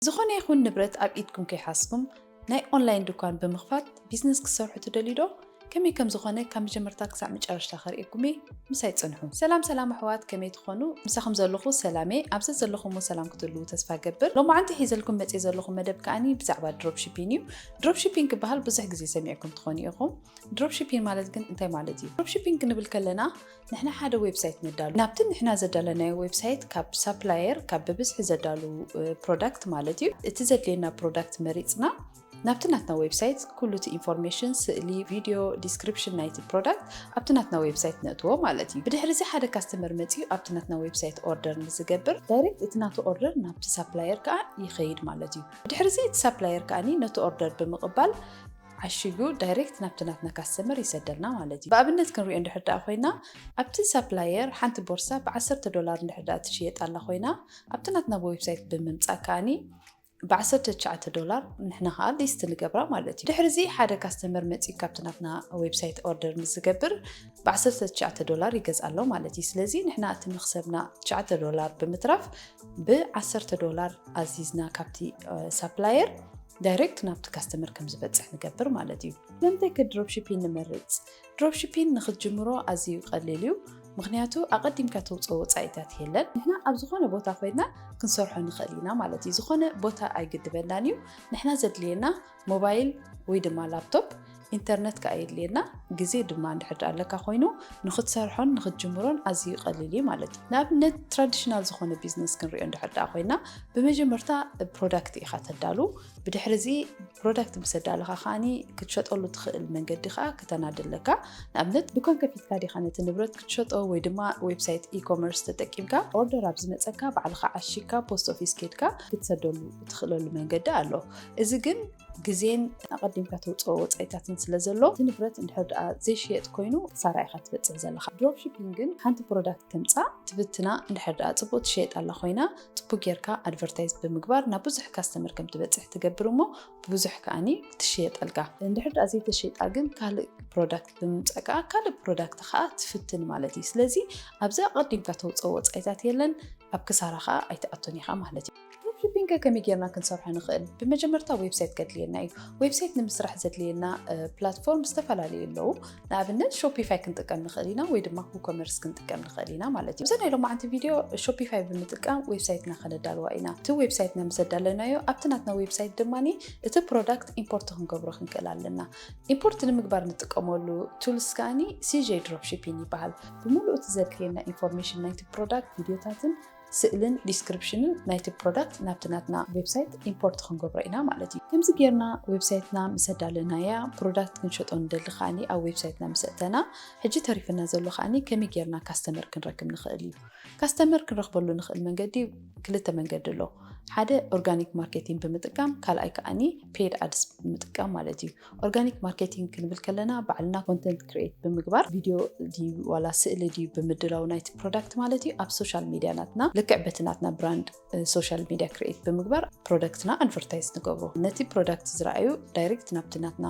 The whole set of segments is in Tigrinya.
ዝኾነ ይኹን ንብረት ኣብ ኢድኩም ከይሓዝኩም ናይ ኦንላይን ድኳን ብምኽፋት ቢዝነስ ክትሰርሑ ትደልዩ ዶ? ከመይ ከም ዝኾነ ካብ መጀመርታ ክሳዕ መጨረሽታ ከርእየኩም እየ፣ ምሳይ ጽንሑ። ሰላም ሰላም ኣሕዋት ከመይ ትኾኑ? ምሳኹም ዘለኹ ሰላም እየ፣ ኣብ ዘዘለኹምዎ ሰላም ክትህልዉ ተስፋ እገብር። ሎማዓንቲ ሒዘልኩም መጽየ ዘለኹ መደብ ከኣኒ ብዛዕባ ድሮፕሺፒን እዩ። ድሮፕሺፒን ክበሃል ብዙሕ ግዜ ሰሚዕኩም ትኾኑ ኢኹም። ድሮፕሺፒን ማለት ግን እንታይ ማለት እዩ? ድሮፕሺፒን ክንብል ከለና ንሕና ሓደ ዌብሳይት ነዳሉ ናብቲ ንሕና ዘዳለናዮ ዌብሳይት ካብ ሳፕላየር ካብ ብብዝሒ ዘዳሉ ፕሮዳክት ማለት እዩ እቲ ዘድልየና ፕሮዳክት መሪፅና ናብቲ ናትና ዌብሳይት ኩሉ እቲ ኢንፎርሜሽን ስእሊ ቪድዮ ዲስክሪፕሽን ናይቲ ፕሮዳክት ኣብቲ ናትና ዌብሳይት ነእትዎ ማለት እዩ ብድሕሪ እዚ ሓደ ካስተመር መፅኡ ኣብቲ ናትና ዌብሳይት ኦርደር ንዝገብር ዳይሬክት እቲ ናቱ ኦርደር ናብቲ ሳፕላየር ከዓ ይኸይድ ማለት እዩ ብድሕሪ እዚ እቲ ሳፕላየር ከዓኒ ነቲ ኦርደር ብምቕባል ዓሺጉ ዳይሬክት ናብቲ ናትና ካስተመር ይሰደልና ማለት እዩ። ብኣብነት ክንሪኦ እንድሕር ደኣ ኮይና ኣብቲ ሳፕላየር ሓንቲ ቦርሳ ብዓሰርተ ዶላር እንድሕር ደኣ ትሽየጥ ኣላ ኮይና ኣብቲ ናትና ብዌብሳይት ብምምጻእ ከኣኒ ብዓሰርተ ትሽዓተ ዶላር ንሕና ከዓ ሊስት ንገብራ ማለት እዩ። ድሕሪ እዚ ሓደ ካስተመር መፂኡ ካብቲ ናትና ዌብሳይት ኦርደር ምስ ዝገብር ብዓሰርተ ትሽዓተ ዶላር ይገዝኣ ኣሎ ማለት እዩ። ስለዚ ንሕና እቲ መክሰብና ትሽዓተ ዶላር ብምትራፍ ብዓሰርተ ዶላር ኣዚዝና ካብቲ ሳፕላየር ዳይሬክት ናብቲ ካስተመር ከም ዝበፅሕ ንገብር ማለት እዩ። ስለምንታይ ከ ድሮፕሺፒን ንመርፅ? ድሮፕሺፒን ንክትጅምሮ ኣዝዩ ቀሊል እዩ፣ ምክንያቱ ኣቐዲምካ ተውፅኦ ወፃኢታት የለን። ንሕና ኣብ ዝኾነ ቦታ ኮይና ክንሰርሖ ንኽእል ኢና ማለት እዩ፣ ዝኾነ ቦታ ኣይግድበናን እዩ። ንሕና ዘድልየና ሞባይል ወይ ድማ ላፕቶፕ ኢንተርነት ከኣ የድልየና፣ ግዜ ድማ እንድሕር ደኣ ኣለካ ኮይኑ ንኽትሰርሖን ንኽትጅምሮን ኣዝዩ ቀሊል እዩ ማለት እዩ። ንኣብነት ትራዲሽናል ዝኾነ ቢዝነስ ክንሪኦ እንድሕር ደኣ ኮይና ብመጀመርታ ፕሮዳክት ኢኻ ተዳሉ፣ ብድሕሪ እዚ ፕሮዳክት ምስ ኣዳለኻ ከኣ ክትሸጠሉ ትኽእል መንገዲ ከኣ ክተናዲ ኣለካ። ንኣብነት ድኳን ከፊትካ ዲኻ ነቲ ንብረት ክትሸጦ ወይ ድማ ዌብሳይት ኢ-ኮመርስ ተጠቂምካ ኦርደር ኣብ ዝመጸካ ባዕልኻ ዓሺግካ ፖስት ኦፊስ ኬድካ ክትሰደሉ እትኽእለሉ መንገዲ ኣሎ። እዚ ግን ግዜን ኣቐዲምካ ተውፅኦ ወፃኢታትን ስለ ዘሎ እቲ ንብረት እንድሕር ድኣ ዘይሽየጥ ኮይኑ ክሳራ ኢኻ ትበፅሕ ዘለኻ። ድሮፕ ሺፒንግ ግን ሓንቲ ፕሮዳክት ተምፃእ ትብትና እንድሕር ድኣ ፅቡቕ ትሸየጣላ ኮይና ፅቡቕ ጌርካ ኣድቨርታይዝ ብምግባር ናብ ብዙሕ ካስተመር ከም ትበፅሕ ትገብር እሞ ብብዙሕ ከዓኒ ትሽየጠልካ። እንድሕር ድኣ ዘይተሸይጣ ግን ካልእ ፕሮዳክት ብምምፃእ ከዓ ካልእ ፕሮዳክት ከዓ ትፍትን ማለት እዩ። ስለዚ ኣብዚ ኣቐዲምካ ተውፅኦ ወፃኢታት የለን ኣብ ክሳራ ከዓ ኣይትኣቱን ኢኻ ማለት እዩ። ድሮፕሺፒንግ ከመይ ጌርና ክንሰርሖ ንኽእል? ብመጀመርታ ዌብሳይት ከድልየና እዩ። ዌብሳይት ንምስራሕ ዘድልየና ፕላትፎርም ዝተፈላለዩ ኣለዉ። ንኣብነት ሾፒፋይ ክንጥቀም ንኽእል ኢና ወይ ድማ ኩኮመርስ ክንጥቀም ንኽእል ኢና ማለት እዩ። እዛ ናይ ሎማዓንቲ ቪድዮ ሾፒፋይ ብምጥቃም ዌብሳይትና ከነዳልዋ ኢና። እቲ ዌብሳይትና ምስ ኣዳለናዮ ኣብቲ ናትና ዌብሳይት ድማ እቲ ፕሮዳክት ኢምፖርት ክንገብሮ ክንክእል ኣለና። ኢምፖርት ንምግባር ንጥቀመሉ ቱልስ ከዓ ሲጄ ድሮፕሺፒንግ ይበሃል። ብምሉእ እቲ ዘድልየና ኢንፎርሜሽን ናይቲ ፕሮዳክት ቪድዮታትን ስእልን ዲስክሪፕሽንን ናይቲ ፕሮዳክት ናብቲ ናትና ዌብሳይት ኢምፖርት ክንገብሮ ኢና ማለት እዩ። ከምዚ ጌርና ዌብሳይትና ምስ ኣዳለናያ ፕሮዳክት ክንሸጦ ንደሊ ከዓኒ ኣብ ዌብሳይትና ምስ ኣእተና ሕጂ ተሪፍና ዘሎ ከዓኒ ከመይ ጌርና ካስተመር ክንረክብ ንኽእል እዩ። ካስተመር ክንረኽበሉ ንኽእል መንገዲ ክልተ መንገዲ ኣሎ። ሓደ ኦርጋኒክ ማርኬቲንግ ብምጥቃም ካልኣይ ከዓኒ ፔድ ኣድስ ብምጥቃም ማለት እዩ። ኦርጋኒክ ማርኬቲንግ ክንብል ከለና ባዕልና ኮንተንት ክሬት ብምግባር ቪድዮ ድዩ ዋላ ስእሊ ድዩ ብምድላው ናይቲ ፕሮዳክት ማለት እዩ ኣብ ሶሻል ሚዲያ ናትና ልክዕ በቲ ናትና ብራንድ ሶሻል ሚዲያ ክሬት ብምግባር ፕሮዳክትና ኣድቨርታይዝ ንገብሮ ነቲ ፕሮዳክት ዝረኣዩ ዳይሬክት ናብቲ ናትና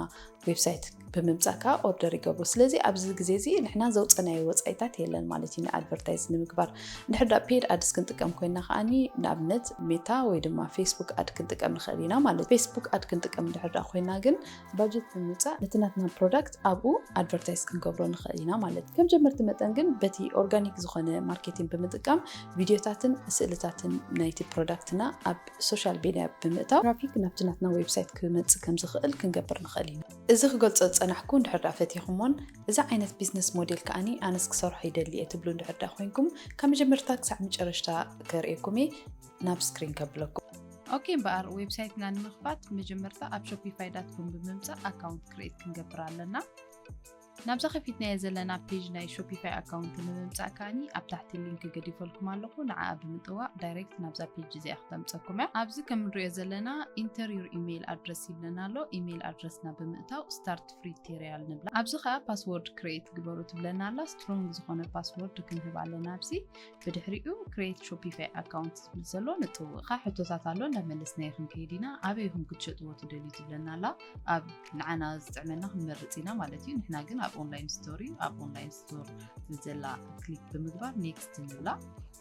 ዌብሳይት ብምምፃእ ከዓ ኦርደር ይገብሩ ስለዚ ኣብዚ ግዜ እዚ ንሕና ዘውፀናዮ ወፃኢታት የለን ማለት እዩ ንኣድቨርታይዝ ንምግባር እንድሕር ዳ ፔድ ኣድስ ክንጥቀም ኮይና ከዓኒ ንኣብነት ሜታ ወይ ድማ ፌስቡክ ኣድ ክንጥቀም ንኽእል ኢና ማለት ፌስቡክ ኣድ ክንጥቀም እንድሕር ዳ ኮይና ግን ባጀት ብምውፃእ ነቲ ናትና ፕሮዳክት ኣብኡ ኣድቨርታይዝ ክንገብሮ ንኽእል ኢና ማለት ከም ጀመርቲ መጠን ግን በቲ ኦርጋኒክ ዝኾነ ማርኬቲንግ ብምጥቃም ቪዲዮታትን ስእልታትን ናይቲ ፕሮዳክትና ኣብ ሶሻል ሜድያ ብምእታው ትራፊክ ናብቲ ናትና ዌብሳይት ክመፅእ ከም ዝኽእል ክንገብር ንኽእል ኢና እዚ ክገልጾ ዝጸናሕኩ እንድሕር ድኣ ፈቲኹሞን እዚ ዓይነት ቢዝነስ ሞዴል ከኣኒ ኣነስ ክሰርሖ ይደሊ እየ ትብሉ እንድሕር ድኣ ኮይንኩም ካብ መጀመርታ ክሳዕ መጨረሽታ ከርእየኩም እየ ናብ ስክሪን ከብለኩም። ኦኬ እምበኣር ዌብሳይትና ንምኽፋት መጀመርታ ኣብ ሾፒፋይ ዳት ኮም ብምምጻእ ኣካውንት ክሬት ክንገብር ኣለና። ናብዛ ከፊትናዮ ዘለና ፔጅ ናይ ሾፒፋይ ኣካውንት ንምምፃእ ከዓኒ ኣብ ታሕቲ ሊንክ ገዲፈልኩም ኣለኹ ንዓኣ ብምጥዋቕ ዳይሬክት ናብዛ ፔጅ እዚኣ ክተምፀኩም እያ ኣብዚ ከም ንሪኦ ዘለና ኢንተር ዩር ኢሜይል ኣድረስ ይብለና ኣሎ ኢሜይል ኣድረስና ብምእታው ስታርት ፍሪ ቴሪያል ንብላ ኣብዚ ከዓ ፓስወርድ ክሬት ግበሩ ትብለና ኣላ ስትሮንግ ዝኾነ ፓስወርድ ክንህብ ኣለና ኣብዚ ብድሕሪኡ ክሬት ሾፒፋይ ኣካውንት ዝብል ዘሎ ንጥውቕኻ ሕቶታት ኣሎ እንዳመለስ ናይ ክንከይድ ኢና ኣበይ ኢኹም ክትሸጥዎ ትደልዩ ትብለና ኣላ ኣብ ንዓና ዝጥዕመና ክንመርፅ ኢና ማለት እዩ ንሕና ግን ኣብ ኦንላይን ስቶር እዩ ኣብ ኦንላይን ስቶር ብዘላ ክሊክ ብምግባር ኔክስት ንብላ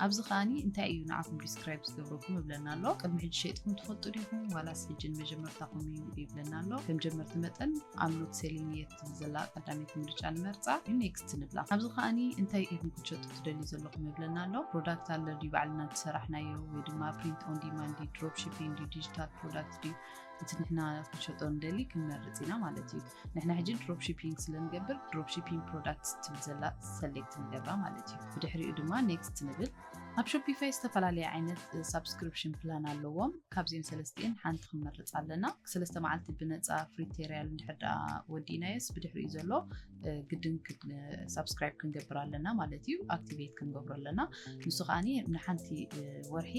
ኣብዚ ከዓኒ እንታይ እዩ ንዓኹም ዲስክራይብ ዝገብረኩም ይብለና ኣሎ ቅድሚ ሕጂ ሸጥኩም ትፈልጡ ዲኹም ዋላስ ሕጂ ንመጀመርታኹም እዩ ይብለና ኣሎ ከም ጀመርቲ መጠን ኣምኖት ሴሊንየት ዘላ ቀዳመይቲ ምርጫ ንመርፃ ኔክስት ንብላ ኣብዚ ከዓኒ እንታይ ኢኹም ክትሸጡ ትደልዩ ዘለኹም ይብለና ኣሎ ፕሮዳክት ኣሎ ድዩ ባዕልና ዝሰራሕናዮ ወይ ድማ ፕሪንት ኦን ዲማንድ ድዩ ድሮፕ ሺፒንግ ድዩ ዲጂታል ፕሮዳክት ድዩ እቲ ንሕና ክንሸጦ ንደሊ ክንመርፅ ኢና ማለት እዩ ንሕና ሕጂ ድሮፕ ሺፒንግ ስለንገብር ድሮፕ ሺፒንግ ፕሮዳክት ትብል ዘላ ሰሌክት ንገብራ ማለት እዩ ብድሕሪኡ ድማ ኔክስት ንብል ኣብ ሾፒፋይ ዝተፈላለየ ዓይነት ሳብስክሪፕሽን ፕላን ኣለዎም ካብዚኦም ሰለስቲኤን ሓንቲ ክንመርፅ ኣለና ሰለስተ መዓልቲ ብነፃ ፍሪ ቴሪያል እንድሕር ደኣ ወዲእናዮስ ብድሕሪኡ ዘሎ ግድን ሳብስክራይብ ክንገብር ኣለና ማለት እዩ ኣክቲቬት ክንገብሮ ኣለና ንሱ ከዓ ንሓንቲ ወርሒ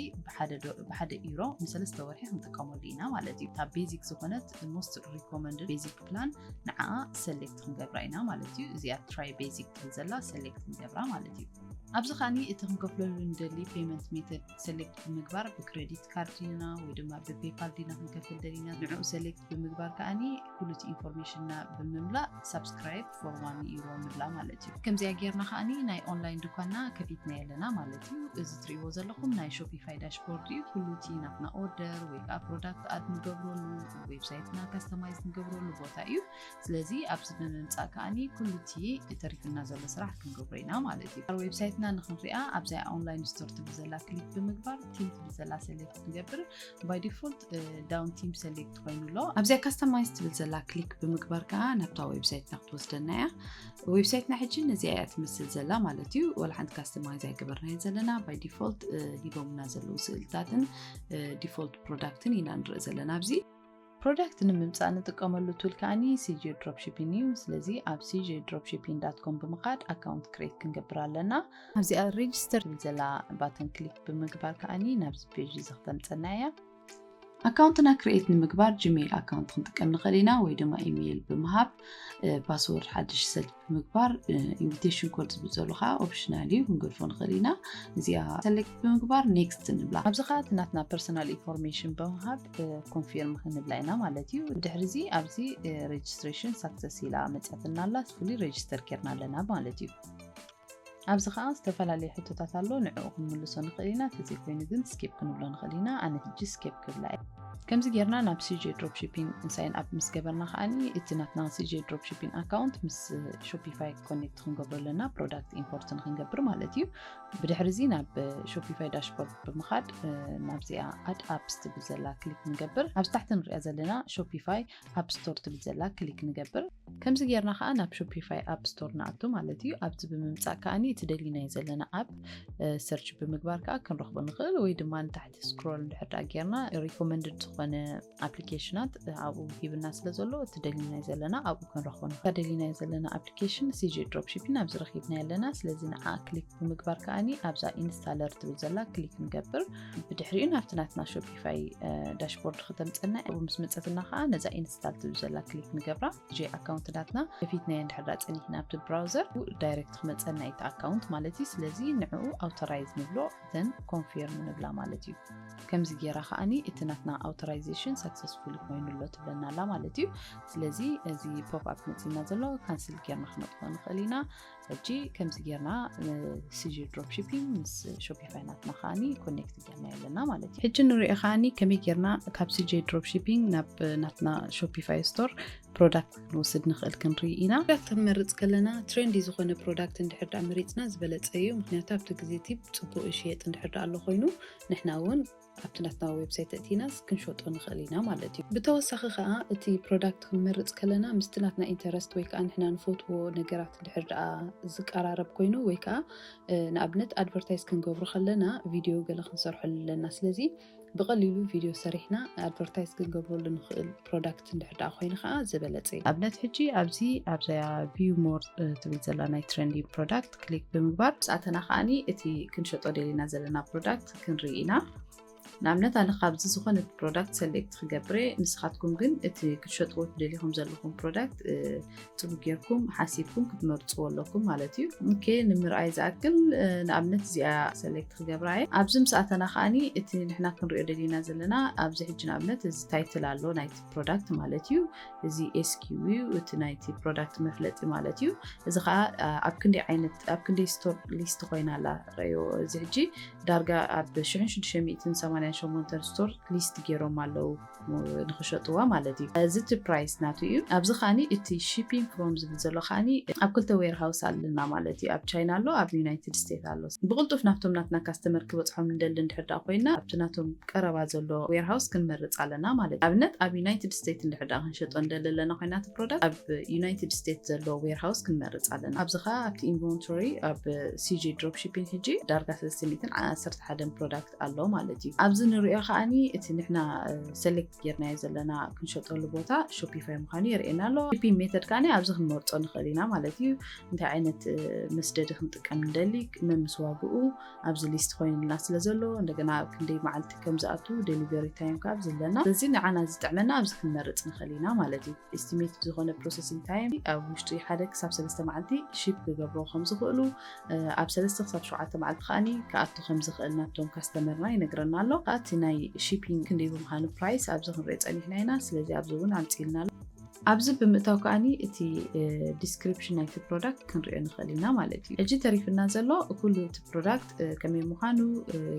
ብሓደ ኢሮ ንሰለስተ ወርሒ ክንጥቀመሉ ኢና ማለት እዩ ካብ ቤዚክ ዝኮነት ሞስት ሪኮመንድ ቤዚክ ፕላን ንዓ ሰሌክት ክንገብራ ኢና ማለት እዩ እዚኣ ትራይ ቤዚክ ትብል ዘላ ሰሌክት ክንገብራ ማለት እዩ ኣብዚ ከዓኒ እቲ ክንከፍለሉ ንደሊ ፔመንት ሜተድ ሰሌክት ብምግባር ብክሬዲት ብክሬዲት ካርድ ዲና ወይ ድማ ብፔፓል ዲና ክንከፍል ደሊና ንዕኡ ሰሌክት ብምግባር ከዓኒ ኩሉ እቲ ኢንፎርሜሽንና ብምምላእ ሳብስክራይብ ፎር ዋን ዩሮ ንብላ ማለት እዩ ከምዚኣ ጌርና ከዓኒ ናይ ኦንላይን ድኳና ከፊትና ኣለና ማለት እዩ እዚ ትሪእዎ ዘለኹም ናይ ሾፒፋይ ዳሽቦርድ እዩ ኩሉ እቲ ናትና ኦርደር ወይ ከዓ ፕሮዳክት ኣድ ንገብረሉ ዌብሳይትና ካስተማይዝ ንገብረሉ ቦታ እዩ ስለዚ ኣብዚ ብምምፃእ ከዓኒ ኩሉ እቲ ተሪፍና ዘሎ ስራሕ ክንገብሮ ኢና ማለት እዩ ኣብ ዌብሳይትና ንክንሪኣ ኣብዛ ኦንላይን ስቶር ትብል ዘላ ክሊክ ብምግባር ቲም ትብል ዘላ ሰሌክት ክንገብር ባይ ዲፎልት ዳውን ቲም ሰሌክት ኮይኑ ኣሎ ኣብዚኣ ካስተማይዝ ትብል ዘላ ክሊክ ብምግባር ከዓ ናብታ ዌብሳይትና ክትወስደና እያ ዌብሳይትና ሕጂ ነዚኣ እያ ትመስል ዘላ ማለት እዩ ወላ ሓንቲ ካስተማይዝ ኣይገበርናዮ ዘለና ባይ ዲፎልት ሂቦምና ዘለዉ ስእልታትን ዲፎልት ፕሮዳክትን ኢና ንርኢ ዘለና ኣብዚ ፕሮዳክት ንምምፃእ ንጥቀመሉ ቱል ከኣኒ ሲጂ ድሮፕሺፒን እዩ ስለዚ ኣብ ሲጂ ድሮፕሺፒን ዳት ኮም ብምኻድ ኣካውንት ክሬት ክንገብር ኣለና ኣብዚኣ ሬጅስተር ትብል ዘላ ባተን ክሊክ ብምግባር ከኣኒ ናብዚ ፔጅ እዚ ክተምፀና እያ ኣካውንትና ክሬኤት ንምግባር ጂሜይል ኣካውንት ክንጥቀም ንኽእል ኢና ወይ ድማ ኢሜይል ብምሃብ ፓስወርድ ሓድሽ ሰት ብምግባር ኢንቪቴሽን ኮድ ዝብል ዘሎ ከዓ ኦፕሽናል እዩ ክንገድፎ ንኽእል ኢና እዚኣ ሰሌክት ብምግባር ኔክስት ንብላ ኣብዚ ከዓ እቲ ናትና ፐርሰናል ኢንፎርሜሽን ብምሃብ ኮንፊርም ክንብላ ኢና ማለት እዩ ድሕሪ እዚ ኣብዚ ሬጅስትሬሽን ሳክሰስ ኢላ መፅያትና ኣላ ስፍሊ ሬጅስተር ኬርና ኣለና ማለት እዩ ኣብዚ ከዓ ዝተፈላለዩ ሕቶታት ኣሎ ንዕኡ ክንምልሶ ንኽእል ኢና ተዘይኮይኑ ግን ስኬፕ ክንብሎ ንኽእል ኢና ኣነ ሕጂ ስኬፕ ክብላ እየ ከምዚ ጌርና ናብ ሲጄ ድሮፕ ሺፒንግ ሳይን ኣፕ ምስ ገበርና ከዓ እቲ ናትና ሲጄ ድሮፕ ሺፒንግ ኣካውንት ምስ ሾፒፋይ ኮኔክት ክንገብሮ ኣለና ፕሮዳክት ኢምፖርት ንክንገብር ማለት እዩ ብድሕሪ እዚ ናብ ሾፒፋይ ዳሽቦርድ ብምኻድ ናብዚኣ ኣድ ኣፕስ ትብል ዘላ ክሊክ ንገብር ኣብዚ ታሕቲ ንሪኣ ዘለና ሾፒፋይ ኣፕ ስቶር ትብል ዘላ ክሊክ ንገብር ከምዚ ጌርና ከዓ ናብ ሾፒፋይ ኣፕ ስቶር ንኣቱ ማለት እዩ ኣብዚ ብምምፃእ ከዓኒ እቲ ደሊናዮ ዘለና ኣፕ ሰርች ብምግባር ከዓ ክንረኽቦ ንኽእል ወይ ድማ ንታሕቲ ስክሮል እንድሕር ጌርና ሪኮመንድድ ዝኾነ ኣፕሊኬሽናት ኣብኡ ሂብና ስለ ዘሎ እቲ ደሊናዮ ዘለና ኣብኡ ክንረኽቦ ንኽእል እታ ደሊናዮ ዘለና ኣፕሊኬሽን ሲጂ ድሮፕሺፒን ኣብዚ ረኺብና ኣለና ስለዚ ንዓ ክሊክ ብምግባር ከዓኒ ኣብዛ ኢንስታለር ትብል ዘላ ክሊክ ንገብር ብድሕሪኡ ናብቲ ናትና ሾፒፋይ ዳሽቦርድ ክተምፀና ኣብኡ ምስ መፀትና ከዓ ነዛ ኢንስታል ትብል ዘላ ክሊክ ንገብራ ጂ ኣካውንት ናትና ከፊትናዮ እንድሕር ዳ ፀኒሕና ኣብቲ ብራውዘር ዳይሬክት ክመፀና እዩ እቲ ኣካውንት ማለት እዩ ስለዚ ንዕኡ ኣውቶራይዝ ንብሎ እተን ኮንፊርም ንብላ ማለት እዩ ከምዚ ጌራ ከዓኒ እቲ ናትና ኣውቶራይዜሽን ሳክሰስፉል ኮይኑ ኣሎ ትብለና ኣላ ማለት እዩ ስለዚ እዚ ፖፕ ኣፕ መፅና ዘሎ ካንስል ጌርና ክነጥፎ ንኽእል ኢና ሕጂ ከምዚ ጌርና ስጂ ድሮፕ ሺፒንግ ምስ ሾፒፋይ ናትና ከዓኒ ኮኔክት ጌርና ኣለና ማለት እዩ ሕጂ ንሪኦ ከዓኒ ከመይ ጌርና ካብ ስጂ ድሮፕ ሺፒንግ ናብ ናትና ሾፒፋይ ስቶር ፕሮዳክት ክንወስድ ንኽእል ክንርኢ ኢና ፕሮዳክት ክንመርፅ ከለና ትሬንዲ ዝኾነ ፕሮዳክት እንድሕር ዳኣ መሪፅና ዝበለፀ እዩ ምክንያቱ ኣብቲ ግዜ እቲ ፅቡቅ ይሽየጥ እንድሕር ዳኣ ኣሎ ኮይኑ ንሕና እውን ኣብቲ ናትና ዌብሳይት እቲና ክንሸጦ ንኽእል ኢና ማለት እዩ ብተወሳኺ ከዓ እቲ ፕሮዳክት ክንመርፅ ከለና ምስቲ ናትና ኢንተረስት ወይ ከዓ ንሕና ንፈትዎ ነገራት እንድሕር ዳኣ ዝቀራረብ ኮይኑ ወይ ከዓ ንኣብነት ኣድቨርታይዝ ክንገብሮ ከለና ቪድዮ ገለ ክንሰርሐሉ ኣለና ስለዚ ብቐሊሉ ቪድዮ ሰሪሕና ኣድቨርታይዝ ክንገብረሉ ንኽእል ፕሮዳክት እንድሕር ደኣ ኮይኑ ከዓ ዝበለፀ እዩ ኣብነት ሕጂ ኣብዚ ኣብዛ ቪው ሞር ትብል ዘላ ናይ ትሬንዲንግ ፕሮዳክት ክሊክ ብምግባር ምስኣተና ከዓኒ እቲ ክንሸጦ ደሊና ዘለና ፕሮዳክት ክንርኢ ኢና ንኣብነት ኣነ ካብዚ ዝኾነ ፕሮዳክት ሰሌክት ክገብረ ንስኻትኩም ግን እቲ ክትሸጥዎ ትደልኹም ዘለኹም ፕሮዳክት ጽቡቅ ጌርኩም ሓሲብኩም ክትመርጽዎ ኣለኩም ማለት እዩ ኦኬ ንምርኣይ ዝኣክል ንኣብነት እዚኣ ሰሌክት ክገብራ እየ ኣብዚ ምስ ኣተና ከዓኒ እቲ ንሕና ክንሪኦ ደሊና ዘለና ኣብዚ ሕጂ ንኣብነት እዚ ታይትል ኣሎ ናይቲ ፕሮዳክት ማለት እዩ እዚ ኤስኪው እዩ እቲ ናይቲ ፕሮዳክት መፍለጢ ማለት እዩ እዚ ከዓ ኣብ ክንደይ ዓይነት ኣብ ክንደይ ስቶር ሊስት ኮይና ኣላ ረዮ እዚ ሕጂ ዳርጋ ኣብ 688 ስቶር ሊስት ገይሮም ኣለዉ ንክሸጥዋ ማለት እዩ እዚ እቲ ፕራይስ ናቱ እዩ ኣብዚ ከኣ እቲ ሺፒንግ ፍሮም ዝብል ዘሎ ከኣ ኣብ ክልተ ዌር ሃውስ ኣለና ማለት እዩ ኣብ ቻይና ኣሎ ኣብ ዩናይትድ ስቴት ኣሎ ብቅልጡፍ ናብቶም ናትና ካስተመር ክበጽሖም ንደሊ እንድሕር ድኣ ኮይና ኣብቲ ናቶም ቀረባ ዘሎ ዌር ሃውስ ክንመርጽ ኣለና ማለት እዩ ኣብነት ኣብ ዩናይትድ ስቴት እንድሕር ድኣ ክንሸጦ ንደሊ ኣለና ኮይና እቲ ፕሮዳክት ኣብ ዩናይትድ ስቴት ዘሎ ዌር ሃውስ ክንመርጽ ኣለና ኣብዚ ከኣ ኣብቲ ኢንቨንቶሪ ኣብ ሲጂ ድሮፕ ሺፒንግ ሕጂ ዳርጋ 311 ፕሮዳክት ኣሎ ማለት እዩ ኣብዚ ንሪኦ ከዓ እቲ ንሕና ሰሌክት ጌርናዮ ዘለና ክንሸጠሉ ቦታ ሾፒፋይ ምዃኑ የርእየና ኣሎ ሺፒንግ ሜተድ ከዓ ኣብዚ ክንመርፆ ንኽእል ኢና ማለት እዩ እንታይ ዓይነት መስደዲ ክንጥቀም ንደሊ መምስ ዋግኡ ኣብዚ ሊስት ኮይኑልና ስለ ዘሎ እንደገና ክንደይ መዓልቲ ከም ዝኣቱ ደሊቨሪ ታይም ካብ ዘለና ስለዚ ንዓና ዝጥዕመና ኣብዚ ክንመርፅ ንኽእል ኢና ማለት እዩ ኤስቲሜት ዝኾነ ፕሮሰሲንግ ታይም ኣብ ውሽጢ ሓደ ክሳብ ሰለስተ መዓልቲ ሺፕ ክገብሮ ከም ዝኽእሉ ኣብ ሰለስተ ክሳብ ሸውዓተ መዓልቲ ከዓኒ ክኣቱ ከም ዝኽእል ናብቶም ካስተመርና ይነግረና ኣሎ ከዓ እቲ ናይ ሺፒንግ ክንደይ ብምዃኑ ፕራይስ ኣብዚ ክንሪኦ ፀኒሕና ኢና ስለዚ ኣብዚ እውን ኣምፅልና ኣሎ ኣብዚ ብምእታው ከዓኒ እቲ ዲስክሪፕሽን ናይቲ ፕሮዳክት ክንሪኦ ንኽእል ኢና ማለት እዩ ሕጂ ተሪፍና ዘሎ ኩሉ እቲ ፕሮዳክት ከመይ ምዃኑ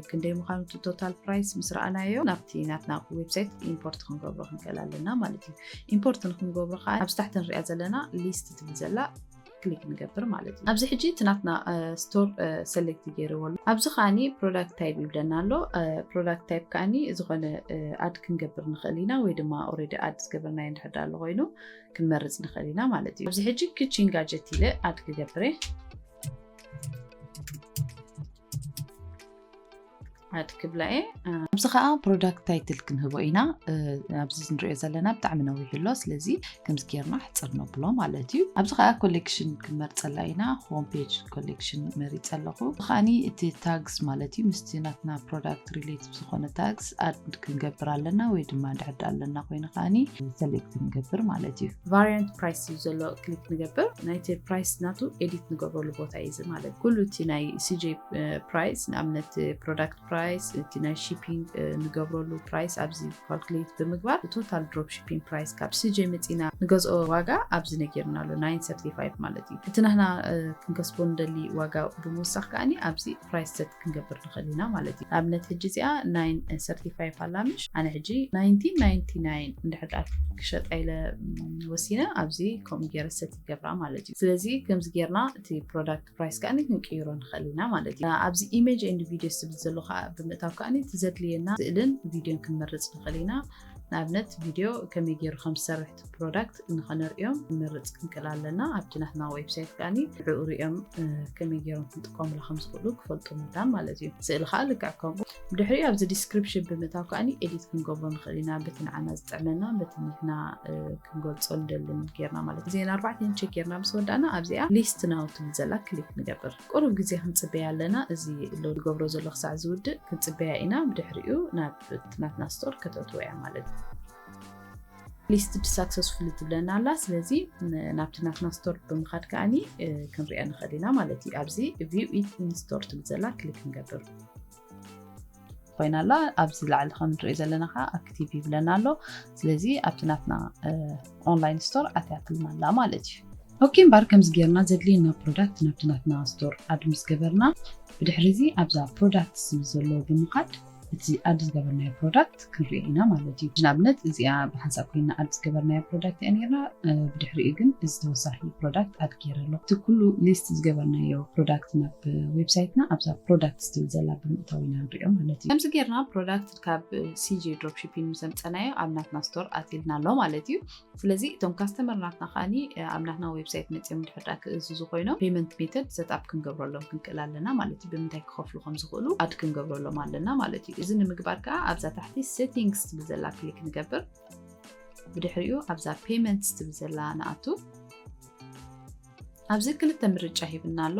ክንደይ ምዃኑ እቲ ቶታል ፕራይስ ምስ ረኣናዮ ናብቲ ናትና ዌብሳይት ኢምፖርት ክንገብሮ ክንክእል ኣለና ማለት እዩ ኢምፖርት ንክንገብሮ ከዓ ኣብዚ ታሕቲ ንሪኣ ዘለና ሊስት ትብል ዘላ ክሊክ ንገብር ማለት እዩ ኣብዚ ሕጂ እቲ ናትና ስቶር ሰሌክት ገይርዎ ኣሎ ኣብዚ ከዓኒ ፕሮዳክት ታይፕ ይብለና ኣሎ ፕሮዳክት ታይፕ ከዓኒ ዝኾነ ኣድ ክንገብር ንኽእል ኢና ወይ ድማ ኦረዲ ኣድ ዝገበርናዮ እንድሕር ኣሎ ኮይኑ ክንመርፅ ንኽእል ኢና ማለት እዩ ኣብዚ ሕጂ ክቺን ጋጀት ኢለ ኣድ ክገብር እየ ዓድ ክብላ እየ ኣብዚ ከዓ ፕሮዳክት ታይትል ክንህቦ ኢና ኣብዚ ንሪኦ ዘለና ብጣዕሚ ነዊሕ ኣሎ ስለዚ ከምዚ ጌርና ሕፅር ነብሎ ማለት እዩ ኣብዚ ከዓ ኮሌክሽን ክንመርፀላ ኢና ሆም ፔጅ ኮሌክሽን መሪፀ ኣለኹ ከዓኒ እቲ ታግስ ማለት እዩ ምስቲ ናትና ፕሮዳክት ሪሌት ዝኾነ ታግስ ኣድ ክንገብር ኣለና ወይ ድማ ንድሕዳ ኣለና ኮይኑ ከዓኒ ሰሌክት ንገብር ማለት እዩ ቫሪያንት ፕራይስ እዩ ዘሎ ክሊክ ንገብር ናይቲ ፕራይስ ናቱ ኤዲት ንገብረሉ ቦታ እዩ እዚ ማለት ኩሉ እቲ ናይ ሲጄ ፕራይስ ንኣብነት ፕሮዳክት ፕራይስ እቲ ናይ ሺፒንግ ንገብረሉ ፕራይስ ኣብዚ ካልኩሌት ብምግባር ቶታል ድሮፕ ሺፒንግ ፕራይስ ካብ ስጀ መፂና ንገዝኦ ዋጋ ኣብዚ ነጊርና ኣሎ 935 ማለት እዩ እቲ ናህና ክንከስቦ ንደሊ ዋጋ ብምውሳኽ ከዓኒ ኣብዚ ፕራይስ ሰት ክንገብር ንኽእል ኢና ማለት እዩ ንኣብነት ሕጂ እዚኣ 935 ኣላምሽ ኣነ ሕጂ 1999 እንድሕር ክሸጣ ኢለ ወሲነ ኣብዚ ከምኡ ገይረ ሰት ይገብራ ማለት እዩ ስለዚ ከምዚ ገይርና እቲ ፕሮዳክት ፕራይስ ከኣ ክንቅይሮ ንኽእል ኢና ማለት እዩ ኣብዚ ኢሜጅ ኤንድ ቪድዮ ዝብል ዘሎ ከዓ ብምእታው ከዓ እቲ ዘድልየና ስእልን ቪድዮን ክንመርፅ ንኽእል ኢና ንኣብነት ቪድዮ ከመይ ገይሩ ከም ዝሰርሕ እቲ ፕሮዳክት ንኸነርእዮም ክንመርፅ ክንክእል ኣለና ኣብቲ ናትና ዌብሳይት ከዓኒ ንዕኡ ሪኦም ከመይ ገይሮም ክንጥቀሙላ ከም ዝኽእሉ ክፈልጡ መዳም ማለት እዩ ስእሊ ከዓ ልክዕ ከምኡ ብድሕሪኡ ኣብዚ ዲስክሪፕሽን ብምእታው ከዓ ኤዲት ክንገብሮ ንኽእል ኢና በቲ ንዓና ዝጥዕመና በቲ ንሕና ክንገልፆ ንደልን ጌርና ማለት እዚን ኣርባዕተን ቸክ ጌርና ምስ ወዳእና ኣብዚኣ ሊስት ናው ትብል ዘላ ክሊክ ንገብር ቁሩብ ግዜ ክንፅበያ ኣለና እዚ ሎ ዝገብሮ ዘሎ ክሳዕ ዝውድእ ክንፅበያ ኢና ብድሕሪኡ ናብ ናትና ስቶር ከተእትዎ እያ ማለት እዩ ሊስት ሳክሰስፉል ትብለና ኣላ ስለዚ ናብቲ ናትና ስቶር ብምኻድ ከዓኒ ክንሪኦ ንኽእል ኢና ማለት እዩ ኣብዚ ቪው ኢት ኢንስቶር ትብል ዘላ ክሊክ ንገብር ኮይና ኣላ ኣብዚ ላዕሊ ከም ንሪኦ ዘለና ከዓ ኣክቲቭ ይብለና ኣሎ ስለዚ ኣብቲ ናትና ኦንላይን ስቶር ኣትያትልና ኣላ ማለት እዩ ኦኬ እምበር ከምዚ ጌርና ዘድልየና ፕሮዳክት ናብቲ ናትና ስቶር ኣድ ምስ ገበርና ብድሕሪ እዚ ኣብዛ ፕሮዳክት ዝብል ዘሎ ብምኻድ እቲ ኣድ ዝገበርናዮ ፕሮዳክት ፕሮዳክት ክንርኢ ኢና ማለት እዩ ንኣብነት እዚኣ ብሓንሳብ ኮይና ኣድ ዝገበርናያ ፕሮዳክት እያ ነርና ብድሕሪኡ ግን እዚ ተወሳኺ ፕሮዳክት ኣድ ገይረ ኣሎ እቲ ኩሉ ሊስት ዝገበርናዮ ፕሮዳክት ናብ ዌብሳይትና ኣብዛ ፕሮዳክት ስትብል ዘላ ብምእታው ኢና ንሪኦ ማለት እዩ ከምዚ ገርና ፕሮዳክት ካብ ሲጂ ድሮፕሺፒንግ ምሰምፀናዮ ኣብ ናትና ስቶር ኣትልና ኣሎ ማለት እዩ ስለዚ እቶም ካስተመር ናትና ከዓኒ ኣብ ናትና ዌብሳይት መፅኦም ድሕር ድኣ ክእዝዙ ኮይኖም ፔመንት ሜተድ ሰትኣፕ ክንገብረሎም ክንክእል ኣለና ማለት እዩ ብምንታይ ክኸፍሉ ከም ዝኽእሉ ኣድ ክንገብረሎም ኣለና ማለት እዩ እዚ ንምግባር ከዓ ኣብዛ ታሕቲ ሴቲንግስ ትብል ዘላ ክሊክ ንገብር ብድሕሪኡ ኣብዛ ፔመንትስ ትብል ዘላ ንኣቱ ኣብዚ ክልተ ምርጫ ሂብና ኣሎ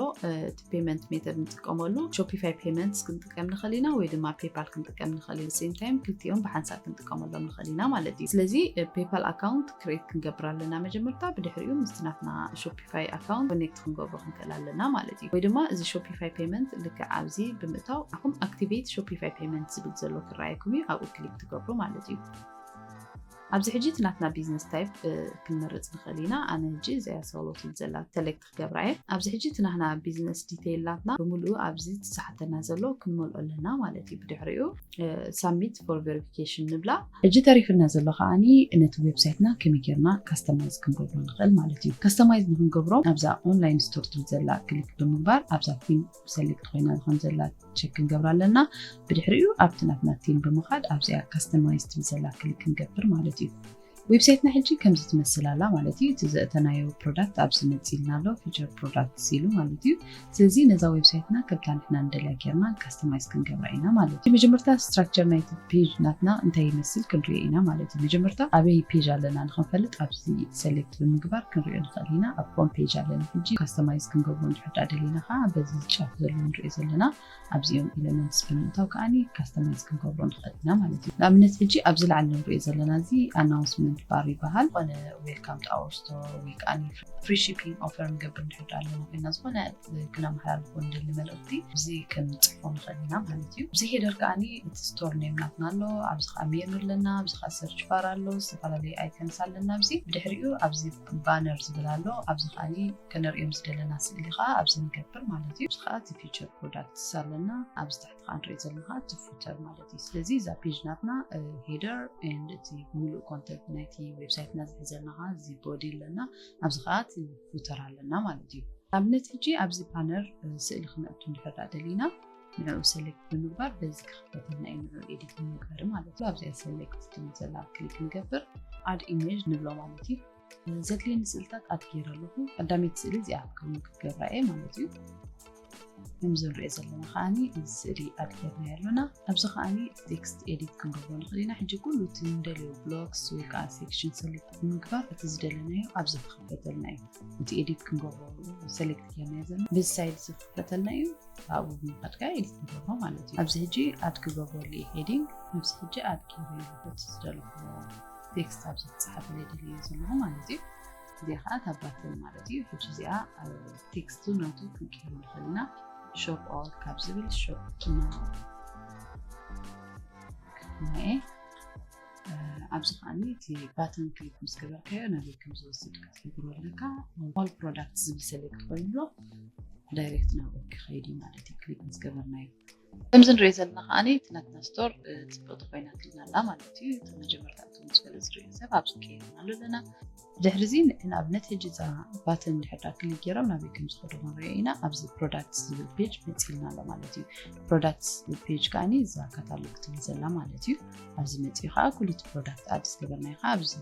እቲ ፔመንት ሜተድ ንጥቀመሉ ሾፒፋይ ፔመንትስ ክንጥቀም ንኽእል ኢና ወይ ድማ ፔፓል ክንጥቀም ንኽእል ኢና ሴም ታይም ክልቲኦም ብሓንሳብ ክንጥቀመሎም ንኽእል ኢና ማለት እዩ ስለዚ ፔፓል ኣካውንት ክሬት ክንገብር ኣለና መጀመርታ ብድሕሪኡ ምስቲ ናትና ሾፒፋይ ኣካውንት ኮኔክት ክንገብሮ ክንክእል ኣለና ማለት እዩ ወይ ድማ እዚ ሾፒፋይ ፔመንት ልክዕ ኣብዚ ብምእታው ኣኹም ኣክቲቬት ሾፒፋይ ፔመንት ዝብል ዘሎ ክረኣየኩም እዩ ኣብኡ ክሊክ ትገብሩ ማለት እዩ ኣብዚ ሕጂ እቲ ናትና ቢዝነስ ታይፕ ክንመርጽ ንኽእል ኢና። ኣነ ሕጂ እዚኣ ሶሎ ትብል ዘላ ሰለክት ክገብራ እየ። ኣብዚ ሕጂ እቲ ናህና ቢዝነስ ዲተይል ናትና ብምልኡ ኣብዚ እቲ ዝሓተና ዘሎ ክንመልኦ ኣለና ማለት እዩ። ብድሕሪኡ ሳብሚት ፎር ቨሪፊኬሽን ንብላ። ሕጂ ተሪፍና ዘሎ ከኣ ነቲ ዌብሳይትና ከመይ ጌርና ካስተማይዝ ክንገብሮ ንኽእል ማለት እዩ። ካስተማይዝ ንኽንገብሮ ኣብዛ ኦንላይን ስቶር ትብል ዘላ ክሊክ ብምግባር ኣብዛ ፊን ሰሌክት ኮይና ከም ዘላ ቸክ ክንገብራ ኣለና ብድሕሪኡ ኣብቲ ናትና ቲም ብምኻድ ኣብዚኣ ካስተማይዝ ትብል ዘላ ክሊክ ክንገብር ማለት እዩ ዌብሳይትና ሕጂ ከምዚ ትመስል ኣላ ማለት እዩ እቲ ዘእተናዮ ፕሮዳክት ኣብዚ መፂልና ኣሎ ፊቸር ፕሮዳክት ሲሉ ማለት እዩ ስለዚ ነዛ ዌብሳይትና ከምታ ንሕና ንደልያ ጌርና ካስተማይዝ ክንገብራ ኢና ማለት እዩ መጀመርታ ስትራክቸር ናይቲ ፔጅ ናትና እንታይ ይመስል ክንሪኦ ኢና ማለት እዩ መጀመርታ ኣበይ ፔጅ ኣለና ንክንፈልጥ ኣብዚ ሰሌክት ብምግባር ክንሪኦ ንኽእል ኢና ኣብ ሆም ፔጅ ኣለና ሕጂ ካስተማይዝ ክንገብሮ ክንርዳእ ደሊና ከኣ በዚ ጫፍ ዘሎ ንሪኦ ዘለና ኣብዚኦም ኤለመንትስ ብምእታው ከኣ ካስተማይዝ ክንገብሮ ንኽእል ኢና ማለት እዩ። ንኣብነት ሕጂ ኣብዚ ላዕሊ ንሪኦ ዘለና እዚ ኣናውንስመንት ባር ይበሃል። ዝኾነ ዌልካም ቱ ኣወር ስቶር ወይ ከኣ ፍሪ ሺፒንግ ኦፈር ንገብር እንድሕር ደኣ ኣለና ኮይና ዝኾነ ክነመሓላልፎ ንደሊ መልእኽቲ እዚ ክንጽሕፎ ንኽእል ኢና ማለት እዩ። ኣብዚ ሄደር ከኣ እቲ ስቶር ኔም ናትና ኣሎ፣ ኣብዚ ከኣ ሜኑ ኣለና፣ ኣብዚ ከኣ ሰርች ባር ኣሎ፣ ዝተፈላለዩ ኣይከንስ ኣለና ኣብዚ ብድሕሪኡ ኣብዚ ባነር ዝብል ኣሎ ኣብዚ ከኣ ክንርእዮም ዝደለና ስእሊ ከኣ ኣብዚ ንገብር ማለት እዩ እዚ ከኣ እቲ ፊቸር ፕሮዳክትስ ኣለና ኣብዚ ታሕቲ ከኣ ንሪኦ ዘለና ከኣ እቲ ፉተር ማለት እዩ ስለዚ እዛ ፔጅ ናትና ሄደር ኤንድ እቲ ሙሉእ ኮንተንት ናይቲ ዌብሳይትና ዝሕዘልና ከኣ እዚ ቦዲ ኣለና ኣብዚ ከኣ እቲ ፉተር ኣለና ማለት እዩ ኣብነት ሕጂ ኣብዚ ባነር ስእሊ ክነእቱ እንድሕር ደሊና ንዕኡ ሰሌክት ብምግባር በዚ ክኽፈተልና እዩ ንዕኡ ኤዲት ንምግባር ማለት እዩ ኣብዚኣ ሰሌክት ትብል ዘላ ክሊክ ንገብር ኣድ ኢሜጅ ንብሎ ማለት እዩ ዘድልየኒ ስእልታት ኣድ ገይረ ኣለኹ ቀዳመይቲ ስእሊ እዚኣ ከምኡ ክትገብራ እየ ማለት እዩ ከምዚ ንሪኦ ዘለና ከዓኒ እዚ ስእሊ ኣድ ገይርና ኣለና ኣብዚ ከዓኒ ቴክስት ኤዲት ክንገብሮ ንኽእል ኢና ሕጂ ኩሉ እቲ ንደልዮ ብሎክስ ወይ ከዓ ሴክሽን ሰሌክት ብምግባር እቲ ዝደለናዮ ኣብዚ ክኽፈተልና እዩ እቲ ኤዲት ክንገብሮ ሰሌክት ገይርና ዘለና በዚ ሳይድ እዚ ክኽፈተልና እዩ ኣብኡ ብምኻድ ከ ኤዲት ንገብሮ ማለት እዩ ኣብዚ ሕጂ ኣድ ክገብረሉ እዩ ሄዲንግ ነብዚ ሕጂ ኣድ ገይሩ ይበት ዝደለኹዎ ቴክስት ኣብዚ ክፅሓፈለ ይደልዩ ዘለኹ ማለት እዩ እዚኣ ከዓ ታባትል ማለት እዩ ሕጂ እዚኣ ቴክስቱ ናቱ ክንቀይሩ ንኽእል ኢና ሾፕ ኦል ካብ ዝብል ሾፕ ናኤ ኣብዚ ከዓኒ እቲ ባተን ክሊክ ምስ ገበርካዮ ናበይ ከም ዝወስድካ ክትገብሮ ኣለካ ኦል ፕሮዳክት ዝብል ሰሌክት ኮይኑሎ ዳይሬክት ናብ ኦኬ ከይድ እዩ ማለት እዩ ክሊክ ምስ ገበርናዮ ከምዚ ንሪኦ ዘለና ከዓ እቲ ናትና ስቶር ፅብቕቲ ኮይና ትልና ኣላ ማለት እዩ እቲ መጀመርታ እቲ ምስ ገለ ዝሪኦ ሰብ ኣብዚ ከይርና ኣሎ ኣለና ድሕሪ እዚ ንኣብነት ሕጂ እዛ ባተን ድሕዳ ክሊክ ገይሮም ናበይ ከም ዝኸዱ ክንሪኦ ኢና ኣብዚ ፕሮዳክትስ ዝብል ፔጅ መፂልና ኣሎ ማለት እዩ ፕሮዳክትስ ዝብል ፔጅ ከዓኒ እዛ ካታሎግ ትብል ዘላ ማለት እዩ ኣብዚ መፂኡ ከዓ ኩሉቲ ፕሮዳክት ኣድስ ገበርናዮ ከዓ ኣብዚ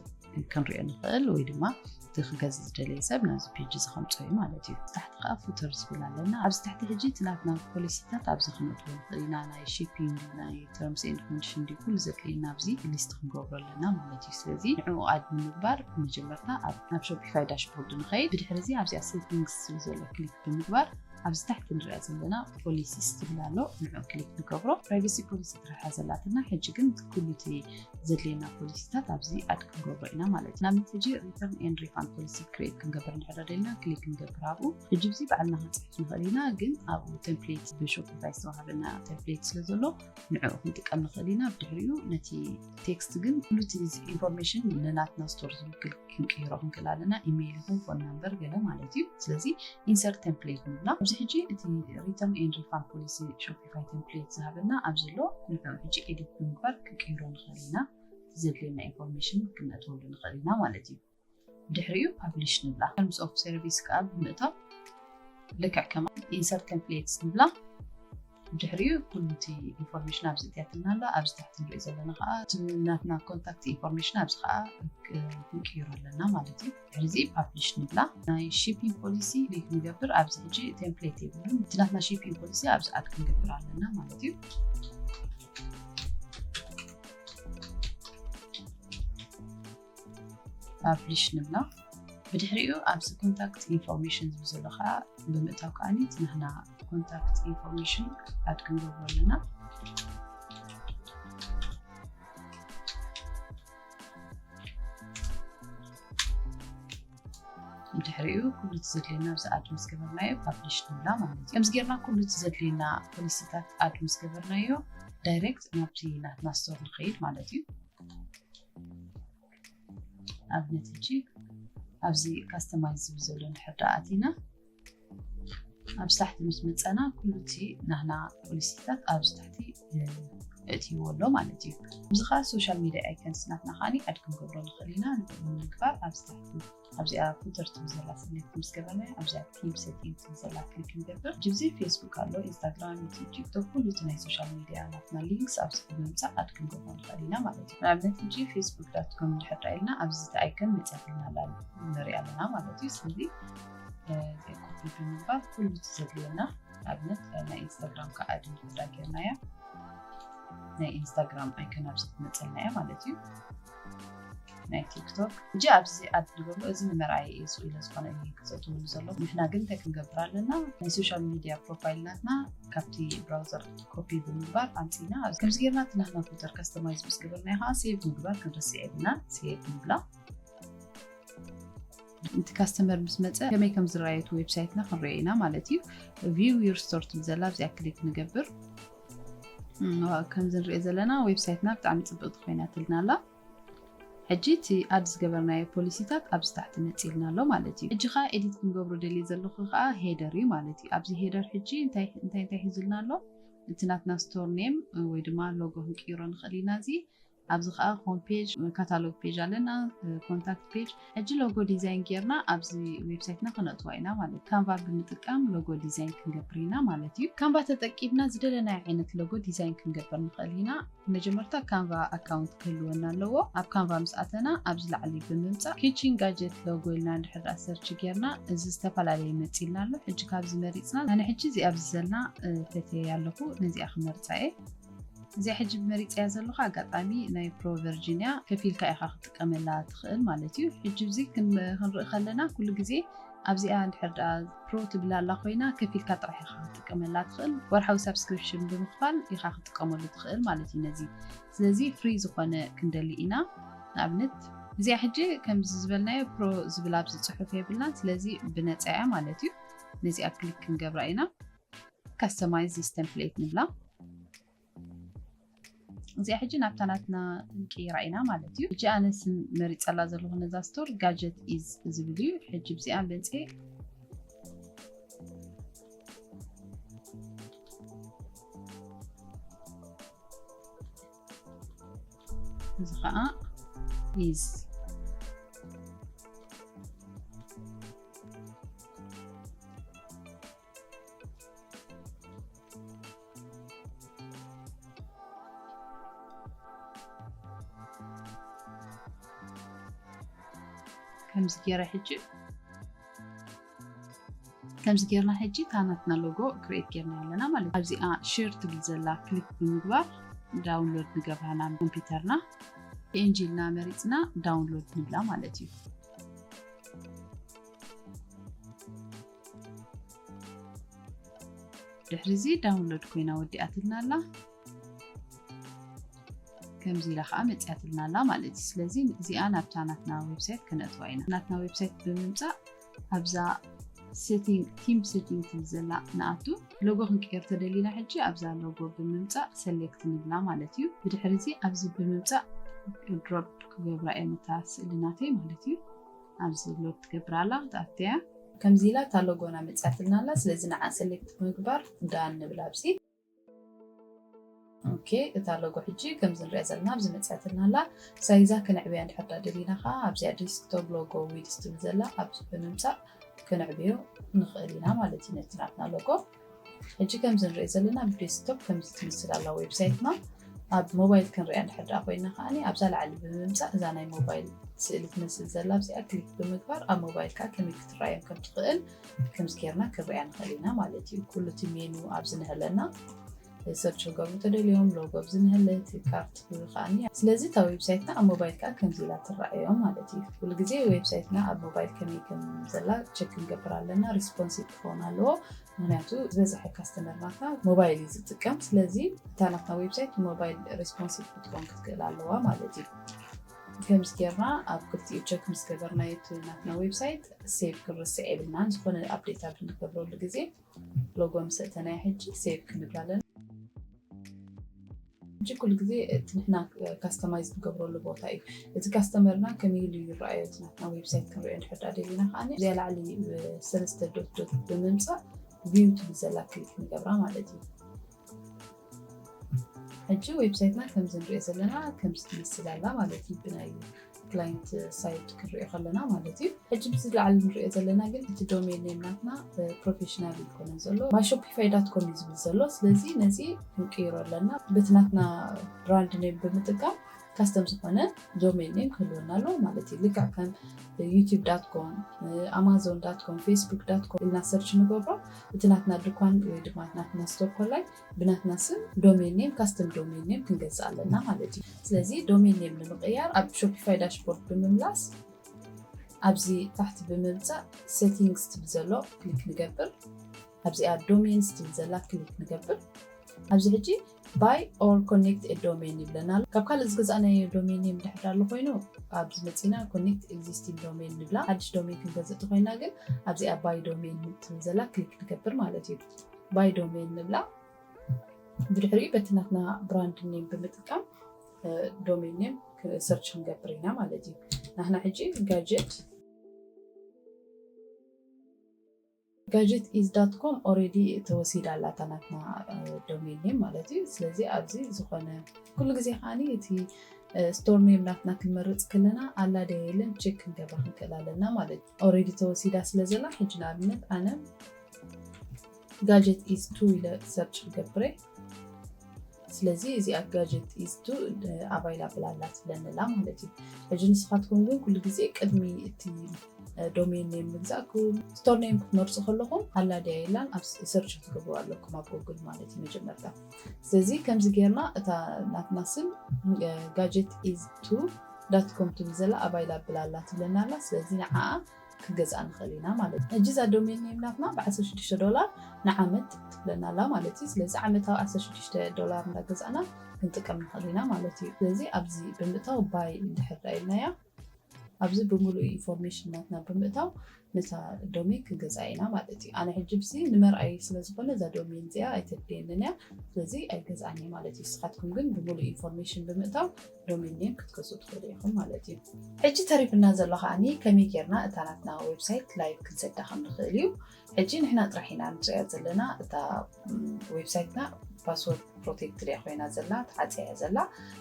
ክንሪኦ ንኽእል ወይ ድማ እቲ ክገዝ ዝደለየ ሰብ ናብዚ ፔጅ እዚ ከምፅኦ እዩ ማለት እዩ ታሕቲ ከዓ ፉተር ዝብል ኣለና ኣብዚ ትሕቲ ሕጂ እቲ ናትና ፖሊሲታት ኣብዚ ክነጥቦ ንኽእል ኢና ናይ ሺፒንግ ናይ ተርምስ ኤንድ ኮንዲሽን ዲ ኩሉ ዘድልየና ኣብዚ ሊስት ክንገብሮ ኣለና ማለት እዩ ስለዚ ንዕኡ ኣድ ንምግባር መጀመርታ ናብ ሾፒፋይ ዳሽቦርድ ንኸይድ ብድሕሪ እዚ ኣብዚኣ ሴቲንግስ ዝብል ዘሎ ክሊክ ብምግባር ኣብዚ ታሕቲ ንሪኣ ዘለና ፖሊሲስ ትብል ኣሎ ንዑ ክሊክ ንገብሮ ፕራይቬሲ ፖሊሲ ትረሓ ዘላትና ሕጂ ግን ኩሉ እቲ ዘድልየና ፖሊሲታት ኣብዚ ኣድ ክንገብሮ ኢና ማለት እዩ ናብነት ሕጂ ሪተርን ኤን ሪፋን ፖሊሲ ክሬት ክንገብር ንሕረ ደልና ክሊክ ክንገብር ኣብኡ ሕጂ ብዚ በዓልና ክንፅሕፍ ንኽእል ኢና ግን ኣብኡ ቴምፕሌት ብሾፍታይ ዝተዋሃበና ቴምፕሌት ስለ ዘሎ ንዕኡ ክንጥቀም ንኽእል ኢና ብድሕሪኡ ነቲ ቴክስት ግን ሉቲ ኢንፎርሜሽን ንናትና ስቶር ዝውክል ክንቅይሮ ክንክእል ኣለና ኢሜይል ይኹን ፎን ናምበር ገለ ማለት እዩ ስለዚ ኢንሰርት ቴምፕሌት ንብላ ኣብዚ ሕጂ እቲ ሪተርን ኤን ሪፋን ፖሊሲ ሾፍ ዲቫይ ተምፕሌት ዝሃበና ኣብዚ ኣሎ ንዕዑ ሕጂ ኤዲት ብምግባር ክንቅይሮ ንኽእል ኢና እቲ ዘድልየና ኢንፎርሜሽን ክንእትወሉ ንኽእል ኢና ማለት እዩ ድሕሪኡ ፓብሊሽ ንብላ ተርምስ ኦፍ ሰርቪስ ከዓ ብምእታው ልክዕ ከማ ኢንሰርት ተምፕሌትስ ንብላ ድሕሪኡ ኩሉ እቲ ኢንፎርሜሽን ኣብዚ እትያትና ኣላ ኣብዚ ታሕቲ ንሪኦ ዘለና ከዓ ናትና ኮንታክት ኢንፎርሜሽን ኣብዚ ከዓ ክንቅይሮ ኣለና ማለት እዩ እዚ ፓብሊሽ ንብላ ናይ ሺፒንግ ፖሊሲ ሪድ ክንገብር ኣብዚ ሕጂ ቴምፕሌት የብሉን እቲ ናትና ሺፒንግ ፖሊሲ ኣብዚ ኣድ ክንገብር ኣለና ማለት እዩ ፓብሊሽ ንብላ ብድሕሪኡ ኣብዚ ኮንታክት ኢንፎርሜሽን ዝብ ዘሎ ከዓ ብምእታው ከዓኒ እቲ ናትና ኮንታክት ኢንፎርሜሽን ኣድ ክንገብሩ ኣለና ድሕሪኡ ኩሉ እቲ ዘድልየና ብዚ ኣድ ምስ ገበርናዮ ፓብሊሽ ንብላ ማለት እዩ ከምዚ ጌርና ኩሉ እቲ ዘድልየና ፖሊሲታት ኣድ ምስ ገበርናዮ ዳይሬክት ናብቲ ናትና ስቶር ንኸይድ ማለት እዩ ኣብነት ሕጂ ኣብዚ ካስተማይዝ ዝብል ዘሎ ንሕርዳኣ ኣቲና ኣብዚ ታሕቲ ምስ መፀና ኩሉ እቲ ናህና ፖሊሲታት ኣብዚ ታሕቲ እትይዎ ኣሎ ማለት እዩ እዚ ከዓ ሶሻል ሚዲያ ኣይከንስ ናትና ከዓኒ ኣድ ክንገብሮ ንኽእል ኢና ንምግባር ኣብዚ ታሕቲ ኣብዚኣ ፉተር ትብል ዘላ ሰሌክት ምስ ገበርና ኣብዚኣ ቲም ሴቲንግ ትብል ዘላ ክሊክ ክንገብር ጅብዚ ፌስቡክ ኣሎ ኢንስታግራም ዩቲብ ቲክቶክ ኩሉ እቲ ናይ ሶሻል ሚዲያ ናትና ሊንክስ ኣብዚ ብምምፃእ ኣድ ክንገብሮ ንኽእል ኢና ማለት እዩ ንኣብነት እጂ ፌስቡክ ዳት ኮም ድሕር ኢልና ኣብዚ እቲ ኣይከን መፅያ ፊልና ኣላ ንሪኣ ኣለና ማለት እዩ ስለዚ ኮፒ ብምግባር ኩሉ እቲ ዘድልየና ንኣብነት ናይ ኢንስታግራም ከዓ ኣድ ንክዳ ጌርና እያ ናይ ኢንስታግራም ኣይከን ኣብዚ ትመፀልና እያ ማለት እዩ ናይ ቲክቶክ እጂ ኣብዚ ኣድ ንገብሎ እዚ ንመርኣይ እዩ ስኡ ኢለ ዝኾነ እዩ ክዘእትውሉ ዘሎ ንሕና ግን እንታይ ክንገብር ኣለና ናይ ሶሻል ሚድያ ፕሮፋይል ናትና ካብቲ ብራውዘር ኮፒ ብምግባር ኣምፅና ከምዚ ጌርና እቲ ናትና ፊልተር ካስተማይዝ ምስ ገበርና ከዓ ሴቭ ምግባር ክንርስዕ የብልና ሴቭ ንብላ እቲ ካስተመር ምስ መፀ ከመይ ከም ዝረኣየ እቲ ዌብሳይትና ክንሪኦ ኢና ማለት እዩ ቪው ዩር ስቶር ትብል ዘላ ኣብዚኣ ክሊክ ንገብር ከምዚ ንሪኦ ዘለና ዌብሳይትና ብጣዕሚ ፅብቕቲ ኮይናትልና ኣላ ሕጂ እቲ ኣድ ዝገበርናዮ ፖሊሲታት ኣብዚ ታሕቲ መፂልና ኣሎ ማለት እዩ ሕጂ ከዓ ኤዲት ክንገብሮ ደልየ ዘለኹ ከዓ ሄደር እዩ ማለት እዩ ኣብዚ ሄደር ሕጂ እንታይ እንታይ ሒዙልና ኣሎ እቲ ናትና ስቶር ኔም ወይ ድማ ሎጎ ክንቅይሮ ንኽእል ኢና እዚ ኣብዚ ከኣ ሆም ፔጅ፣ ካታሎግ ፔጅ ኣለና፣ ኮንታክት ፔጅ። ሕጂ ሎጎ ዲዛይን ጌርና ኣብዚ ዌብሳይትና ክነእትዋ ኢና ማለት እዩ። ካንቫ ብምጥቃም ሎጎ ዲዛይን ክንገብር ኢና ማለት እዩ። ካንቫ ተጠቂምና ዝደለናዮ ዓይነት ሎጎ ዲዛይን ክንገብር ንኽእል ኢና። መጀመርታ ካንቫ ኣካውንት ክህልወና ኣለዎ። ኣብ ካንቫ ምስ ኣተና ኣብዚ ላዕሊ ብምምጻእ ኪቺን ጋጀት ሎጎ ኢልና እንድሕር ደኣ ሰርች ጌርና እዚ ዝተፈላለየ መጺልና ኣሎ። ሕጂ ካብዚ መሪጽና ኣነ ሕጂ እዚኣ ኣብዚ ዘላ ፈትየያ ኣለኹ ነዚኣ ክመርጻ እየ። እዚኣ ሕጂ መሪጸያ ዘለኹ ኣጋጣሚ ናይ ፕሮ ቨርጂንያ ከፊልካ ኢኻ ክትጥቀመላ ትኽእል ማለት እዩ። ሕጂ እዚ ክንርኢ ከለና ኩሉ ግዜ ኣብዚኣ እንድሕር ደኣ ፕሮ ትብል ኣላ ኮይና ከፊልካ ጥራሕ ኢኻ ክትጥቀመላ ትኽእል ወርሓዊ ሳብስክሪፕሽን ብምኽፋል ኢኻ ክትጥቀመሉ ትኽእል ማለት እዩ ነዚ ስለዚ ፍሪ ዝኾነ ክንደሊ ኢና ንኣብነት እዚኣ ሕጂ ከምዚ ዝበልናዮ ፕሮ ዝብል ኣብዚ ፅሑፍ የብልናን ስለዚ ብነፃ እያ ማለት እዩ ነዚኣ ክሊክ ክንገብራ ኢና ካስተማይዝ ዚስ ተምፕሌት ንብላ እዚኣ ሕጂ ናብታ ናትና ንቅይራ ኢና ማለት እዩ ሕጂ ኣነ ስም መሪፀላ ዘለኹ ነዛ ስቶር ጋጀት ኢዝ ዝብል እዩ ሕጂ ብዚኣ በንፀ እዚ ከዓ ኢዝ ከምዚ ገይረ ሕጂ ከምዚ ጌርና ሕጂ እታ ናትና ሎጎ ክሬት ጌርና ኣለና ማለት እዩ ኣብዚኣ ሽር ትብል ዘላ ክሊክ ብምግባር ዳውንሎድ ንገብራ ናብ ኮምፒውተርና ፒኤንጂ ኢልና መሪፅና ዳውንሎድ ንብላ ማለት እዩ ድሕሪ እዚ ዳውንሎድ ኮይና ወዲኣትልና ኣላ ከምዚ ኢላ ከዓ መፅያትልና ኣላ ማለት እዩ ስለዚ እዚኣ ናብታ ናትና ዌብሳይት ክነእትዋ ኢና ናትና ዌብሳይት ብምምፃእ ኣብዛ ሴቲንግ ቲም ሴቲንግ ትብል ዘላ ንኣቱ ሎጎ ክንቀየር ተደሊና ሕጂ ኣብዛ ሎጎ ብምምፃእ ሰሌክት ንብላ ማለት እዩ ብድሕሪ እዚ ኣብዚ ብምምፃእ ድሮፕ ክገብራ እየን እታ ስእልናተይ ማለት እዩ ኣብዚ ሎድ ትገብር ኣላ ክትኣትያ። ከምዚ ኢላ እታ ሎጎና መጽያትልና ኣላ ስለዚ ንዓ ሰሌክት ብምግባር ዳን ንብል ኣብዚ። ኦኬ እታ ሎጎ ሕጂ ከምዚ ንሪኣ ዘለና ኣብዚ መጽያትልና ኣላ ሳይዛ ክንዕብያ እንድሕር ዳኣ ደሊና ከኣ ኣብዚኣ ዲስክቶፕ ሎጎ ዊድዝ ትብል ዘላ ኣብዚ ብምምጻእ ክንዕብዮ ንኽእል ኢና ማለት እዩ ነቲ ናትና ሎጎ። ሕጂ ከምዚ ንሪኦ ዘለና ብዴስክቶፕ ከምዚ ትመስል ኣላ ዌብሳይትና። ኣብ ሞባይል ክንሪኣ እንድሕር ደኣ ኮይና ከኣ ኣብዛ ላዕሊ ብምምጻእ እዛ ናይ ሞባይል ስእሊ ትመስል ዘላ ኣብዚኣ ክሊክ ብምግባር ኣብ ሞባይልካ ከመይ ክትረኣዮም ከም ትኽእል ከምዚ ጌርና ክንሪኣ ንኽእል ኢና ማለት እዩ። ኩሉ እቲ ሜኑ ኣብዚ ነሀለና ሰርች ክገብሩ ተደልዮም ሎጎ ኣብዚ ንህልህቲ ካርት ክኣኒ ስለዚ እታ ዌብሳይትና ኣብ ሞባይልካ ከምዚ ኢላ ትረኣዮ ማለት እዩ ኩሉ ግዜ ዌብሳይትና ኣብ ሞባይል ከመይ ከም ዘላ ቸክ ክንገብር ኣለና ሪስፖንሲቭ ክኸውን ኣለዎ ምክንያቱ ዝበዝሐ ካስተመር ናትና ሞባይል እዩ ዝጥቀም ስለዚ እታ ናትና ዌብሳይት ሞባይል ሪስፖንሲቭ ክትኮን ክትክእል ኣለዋ ማለት እዩ ከምዚ ጌርና ኣብ ክልቲኡ ቸክ ምስ ገበርና ናትና ዌብሳይት ሴቭ ክንርስዕ የብልናን ዝኾነ ኣብዴት ኣብ እንገብረሉ ግዜ ሎጎ ምስ እተናይ ሕጂ ሴቭ ክንብል ኣለና። ሕጂ ኩሉ ግዜ እቲ ንሕና ካስተማይዝ ንገብረሉ ቦታ እዩ። እቲ ካስተመርና ከመይ ኢሉ እዩ ይረኣዮ እቲ ናትና ዌብሳይት ክንሪኦ እንድሕር ደኣ ደሊና ከኣ እዚኣ ላዕሊ ሰለስተ ዶት ዶት ብምምጻእ ቪው ትብል ዘላ ክሊክ ንገብራ ማለት እዩ። ሕጂ ዌብሳይትና ከምዚ ንሪኦ ዘለና ከምዚ ትመስል ኣላ ማለት እዩ ብናይ ክላይንት ሳይድ ክንሪኦ ከለና ማለት እዩ ሕጂ ምስ ላዕሊ ንሪኦ ዘለና ግን እቲ ዶሜን ኔም ናትና ፕሮፌሽናል ይኮነ ዘሎ ማይ ሾፒፋይ ዳት ኮም እዩ ዝብል ዘሎ ስለዚ ነዚ ክንቅይሮ ኣለና በቲ ናትና ብራንድ ኔም ብምጥቃም ካስተም ዝኾነ ዶሜን ኔም ክህልወና ኣለዎ ማለት እዩ ልክዕ ከም ዩቲብ ዳትኮም ኣማዞን ዳትኮም ፌስቡክ ዳትኮም ኢልና ሰርች ንገብሮ እቲ ናትና ድኳን ወይ ድማ ናትና ስቶር ኮላይ ብናትና ስም ዶሜን ኔም ካስተም ዶሜን ኔም ክንገዝእ ኣለና ማለት እዩ ስለዚ ዶሜን ኔም ንምቅያር ኣብ ሾፒፋይ ዳሽቦርድ ብምምላስ ኣብዚ ታሕቲ ብምምፃእ ሴቲንግስ ትብል ዘሎ ክሊክ ንገብር ኣብዚኣ ዶሜንስ ትብል ዘላ ክሊክ ንገብር ኣብዚ ሕጂ Buy or connect a domain ይብለና ኣሎ። ካብ ካልእ ዝገዛእናዮ ዶሜን ኔም ድሕር ዳሎ ኮይኑ ኣብዚ መጺእና connect existing domain ንብላ። ሓድሽ ዶሜን ክንገዝእ እንተኾይና ግን ኣብዚኣ buy domain ትብል ዘላ ክሊክ ንገብር ማለት እዩ። buy domain ንብላ። ብድሕሪኡ በቲ ናትና ብራንድ ኔም ብምጥቃም ዶሜን ኔም ሰርች ክንገብር ኢና ማለት እዩ። ናህና ሕጂ ጋጀት Gadget is dot com ኦሬዲ ተወሲዳ ኣላ እታ ናትና ዶሜን ኔም ማለት እዩ ስለዚ ኣብዚ ዝኾነ ኩሉ ግዜ ከዓኒ እቲ ስቶር ኔም ናትና ክንመርፅ ከለና ኣላ ደ የለን ቼክ ክንገብራ ክንክእል ኣለና ማለት እዩ ኦሬዲ ተወሲዳ ስለ ዘላ ሕጂ ንኣብነት ኣነ ጋጀት ኢዝ ቱ ኢለ ሰርች ክገብረ ስለዚ እዚኣ ጋጀት ኢዝ ቱ ኣቫይላብል ኣላ ትብለኒ ኣላ ማለት እዩ ሕጂ ንስኻትኩም ግን ኩሉ ግዜ ቅድሚ እቲ ዶሜን ኔም ምግዛእኩም ስቶር ኔም ክትመርፁ ከለኹም ኣላ ድያ የላን ኣብ ሰርች ክትገብሩ ኣለኩም ኣብ ጎግል ማለት እዩ መጀመርታ ስለዚ ከምዚ ጌርና እታ ናትና ስም ጋጀት ኢዝ ቱ ዳት ኮም ትብል ዘላ ኣቫይላብል ኣላ ትብለና ኣላ ስለዚ ንዓኣ ክገዝኣ ንክእል ኢና ማለት እዩ ሕጂ እዛ ዶሜን ኔም ናትና ብ ዓሰርተ ሽዱሽተ ዶላር ንዓመት ትብለና ኣላ ማለት እዩ ስለዚ ዓመታዊ ዓሰርተ ሽዱሽተ ዶላር እንዳገዛእና ክንጥቀም ንክእል ኢና ማለት እዩ ስለዚ ኣብዚ ብምእታው ባይ እንድሕር ዳ ኢልናያ ኣብዚ ብምሉእ ኢንፎርሜሽን ናትና ብምእታው ነታ ዶሜን ክንገዝኣ ኢና ማለት እዩ ኣነ ሕጂ ብዚ ንመርኣይ ስለዝኮነ እዛ ዶሜን እዚኣ ኣይተድልየንን እያ ስለዚ ኣይገዝኣን እየ ማለት እዩ ንስካትኩም ግን ብምሉእ ኢንፎርሜሽን ብምእታው ሎሚ እኒኤ ክትገዝኡ ትኽእሉ ኢኹም ማለት እዩ። ሕጂ ተሪፍና ዘሎ ከዓኒ ከመይ ጌርና እታ ናትና ዌብሳይት ላይቭ ክንሰዳ ከም ንኽእል እዩ። ሕጂ ንሕና ጥራሕ ኢና ንጽያ ዘለና እታ ዌብሳይትና ፓስወርድ ፕሮቴክትድ እያ ኮይና ዘላ ተዓፅያ እያ ዘላ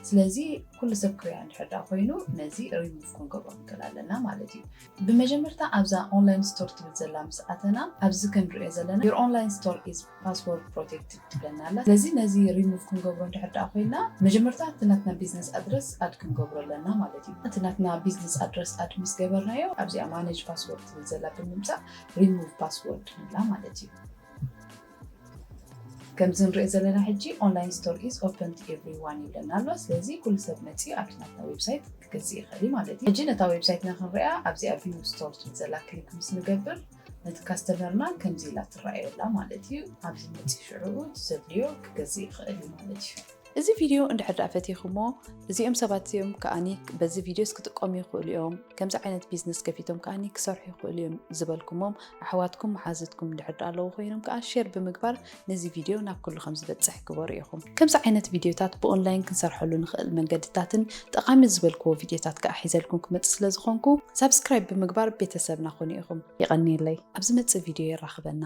ስለዚ ኩሉ ሰብ ክሪያ እንድሕር ዳ ኮይኑ ነዚ ሪሙቭ ክንገብሮ ንክእል ኣለና ማለት እዩ ብመጀመርታ ኣብዛ ኦንላይን ስቶር ትብል ዘላ ምስ ኣተና ኣብዚ ክንሪኦ ዘለና ዮር ኦንላይን ስቶር ኢዝ ፓስዎርድ ፕሮቴክትድ ትብለና ኣላ ስለዚ ነዚ ሪሙቭ ክንገብሮ እንድሕር ደኣ ኮይና መጀመርታ እቲ ናትና ቢዝነስ ኣድረስ ኣድ ክንገብሮ ኣለና ማለት እዩ እቲ ናትና ቢዝነስ ኣድረስ ኣድ ምስ ገበርናዮ ኣብዚኣ ማነጅ ፓስዎርድ ትብል ዘላ ብምምጻእ ሪሙቭ ፓስዎርድ ንብላ ማለት እዩ ከምዚ ንሪኦ ዘለና ሕጂ ኦንላይን ስቶር ኢዝ ኦፐን ቱ ኤቭሪዋን ይብለና ኣሎ ስለዚ ኩሉ ሰብ መጺኡ ኣብቲ ናትና ዌብሳይት ክገዝእ ይኽእል እዩ ማለት እዩ ሕጂ ነታ ዌብሳይትና ክንሪኣ ኣብዚኣ ቪው ስቶር ትብል ዘላ ክሊክ ምስ ንገብር ነቲ ካስተመርና ከምዚ ኢላ ትረኣዮ ኣላ ማለት እዩ። ኣብዚ መጺኡ ሽዑኡ ዘድልዮ ክገዝእ ይኽእል እዩ ማለት እዩ። እዚ ቪድዮ እንድሕር ድኣ ፈቲኹሞ እዚኦም ሰባት እዚኦም ከኣኒ በዚ ቪድዮስ ክጥቀሙ ይኽእሉ እዮም፣ ከምዚ ዓይነት ቢዝነስ ከፊቶም ከኣኒ ክሰርሑ ይኽእሉ እዮም ዝበልኩሞም ኣሕዋትኩም መሓዙትኩም እንድሕር ድኣ ኣለዉ ኮይኖም ከኣ ሼር ብምግባር ነዚ ቪድዮ ናብ ኩሉ ከም ዝበጽሕ ግበሩ ኢኹም። ከምዚ ዓይነት ቪድዮታት ብኦንላይን ክንሰርሐሉ ንኽእል መንገድታትን ጠቓሚ ዝበልክዎ ቪድዮታት ከኣ ሒዘልኩም ክመጽእ ስለ ዝኾንኩ ሳብስክራይብ ብምግባር ቤተሰብና ኩኑ ኢኹም። የቐንየለይ። ኣብ ዝመጽእ ቪድዮ የራኽበና።